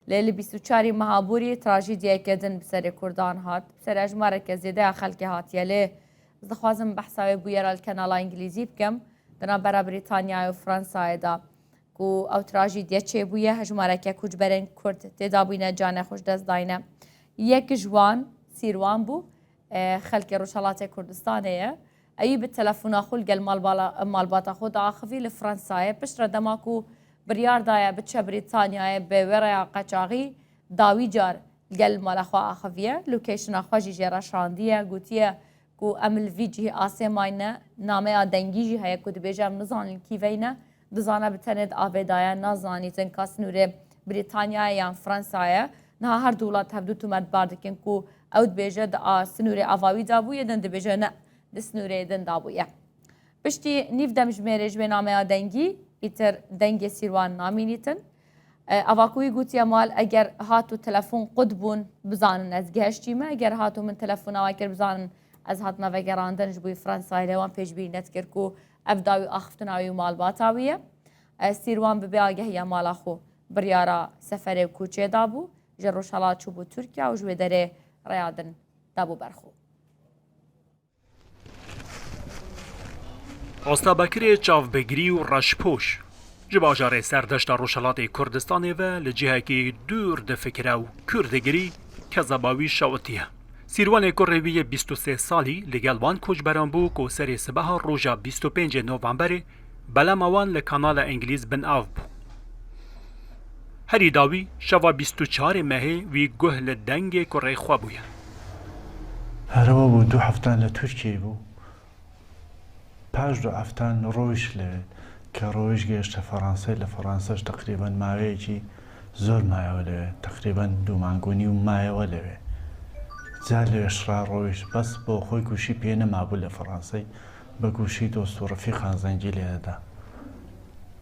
Lê li bîst û çarî Mehaborî trajîdyayeke din bi serê Kurdan hat. Bi ser ejmareke zêde ya xelkê hatiye lê. Ez dixwazim behsa wê bûyera li kenala Îngilîzî bikim di navbera Brîtanyayê û Fransayê de ku ew trajîdye çêbûye hejmareke koçberên Kurd têdabûyne canê xwe ji dest dayne. Yek ji wan Sîrwan bû Xelkê Rojhelatê Kurdistanê ye. Eyû bi telefona xwe li gel malbata xwe diaxivî li Fransayê. Piştre dema ku biryar daye biçe Brîtanyayê bi wê reya qeçaxî dawî car li gel mala xwe axiviye. Location'a xwe jî jê re şandiye. Gotiye ku em li vî cihê asê mayne. Nameya dengî jî heye ku dibêje em nizanin kîveyne. Dizana bi tenê di avê de ye, nazanî jin ka snûrê Brîtanyayê yan Fransayê. Niha her du welat hevdu tometbar dikin ku ew dibêje di a snûrê ava wî de bûye, din dibêje ne di snûrê din de bûye. Piştî nîv demjimêrê ji wê nameya dengî îtir dengê Sîrwan namînîtin. Ava ku wî gotiye mal eger hat û telefon qut bûn bizanin ez gihiştîme, eger hat û min telefona we kir bizanin ez hatima vegerandin ji bo Fransayê lê wan pêşbîrî nedikir ku Ev dawî axiftina wî û malbata wî ye. Sîrwan bi bêagehiya mala xwe biryara seferê û koçê dabû. Ji Rojhelat çûbû Tirkiye û ji wê derê rêya din dabû ber xwe. Osta Bekirê çavbigirî û reşpoş. Ji bajarê Serdeşta Rojhelatê Kurdistanê ve li cihekî dûr difikire û kûr digirî ke zeba wî şawitî ye. Sîrwanê ku rê wî yê bîst û sê salî li gel van koçberan bû ku serê sibeha roja bîst û pêncê Novemberê belema wan li kanala Îngilîz bin av bû. Herî dawî şeva bîst û çarê mehê wî guh li dengê ku rê xwe bûye. Herêwa bû du hefte li Tirkiyeyê bû Paş du heftan li roj li ke roj gêşte Fransayê li Fransa ji teqrîben maveyekî zor maye we li we. Teqrîben du mang û nîw maye we li we. Car li we şira roj bes bo xwe goşî pê nemabû li Fransayê bi goşî dost û refîqan zengî lê dida.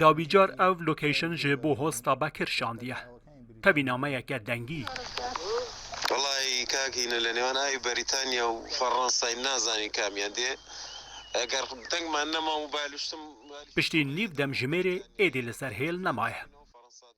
Dawî car ev location ji bo hosta Bekir şandiye. Tevî nameyeke dengî. Wellahî kak hîn e li nêwan ayê Berîtanya û Ferransayê nazanî kamiyan dê eger deng man nema mobile ştim. Piştî nîv demjimêrê êdî li ser hêl nemaye.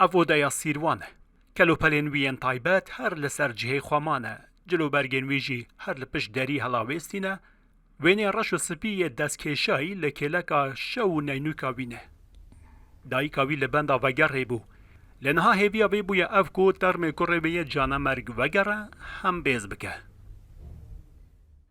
Ev odeya Sîrwan e. Kelopelên wî yên taybet her li ser cihê xwe mane, cilûbergên wî jî her li pişt derî helawêstîne, wênê reş û spî yê destkêşayî li kêleka şew û neynûka wî ne. Dayika wî li benda vegerê bû. Lê niha hêviya wê bûye ev ku termê kurê wê yê canemerg vegere, hembêz bike.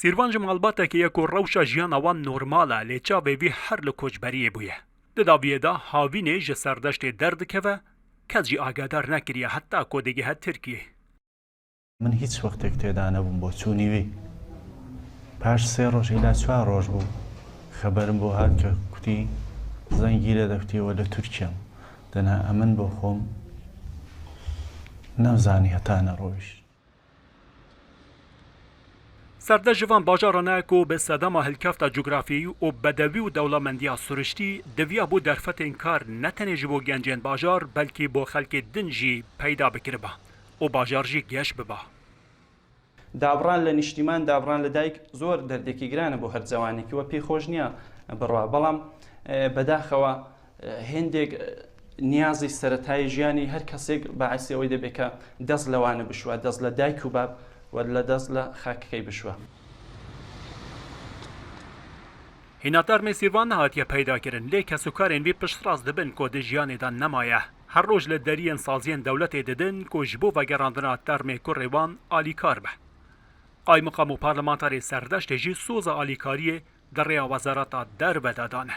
Sîrvan ji malbatekê ye ku rewşa jiyana wan normal e lê çavê wî her li koçberiyê bûye. Di daviyê de havînê ji serdeştê derdikeve, kes jî agedar nekiriye heta ku digihe Tirkiyeyê. Min hîç wextêk têda nebûm bo çûnî wî. Paş sê roj îla çwar roj bû xeberim bo hat ke kutî zengî lê de kutî we li Tirkiye im. Di na emin bo xwem nemzanî heta ne rojîş. Serde ji van bajaran e ku bi sedema hilkefta cografyayî û bedewî û dewlemendiya siriştî diviya bo derfetên kar ne tenê ji bo gencên bajar belkî bo xelkê din jî peyda bikiriba û bajar jî geş biba. Dabran li niştîman, dabran li dayik zor derdekî giran e bo her zewanekî. We pê xweş niya biroa. Belam bedaxewa Hêndêk niyazê seretayê jiyanî her kesêk baisê wê dê bê ke dest li wan bişuwe, dest li dayik û bab û dest li xakikey bişuwe. Hînatar Nêsîrvan nehatiye peydakirin lê kesûkarên wî piştrast dibin ku di jiyanê de nemaye. Her roj li deriyên saziyên dewletê didin ku ji bo vegerandina termê kurê wan alîkar be. Qaymiqam û parlemantarê serdeştê jî soza alîkariyê di rêya wezareta derve de dane.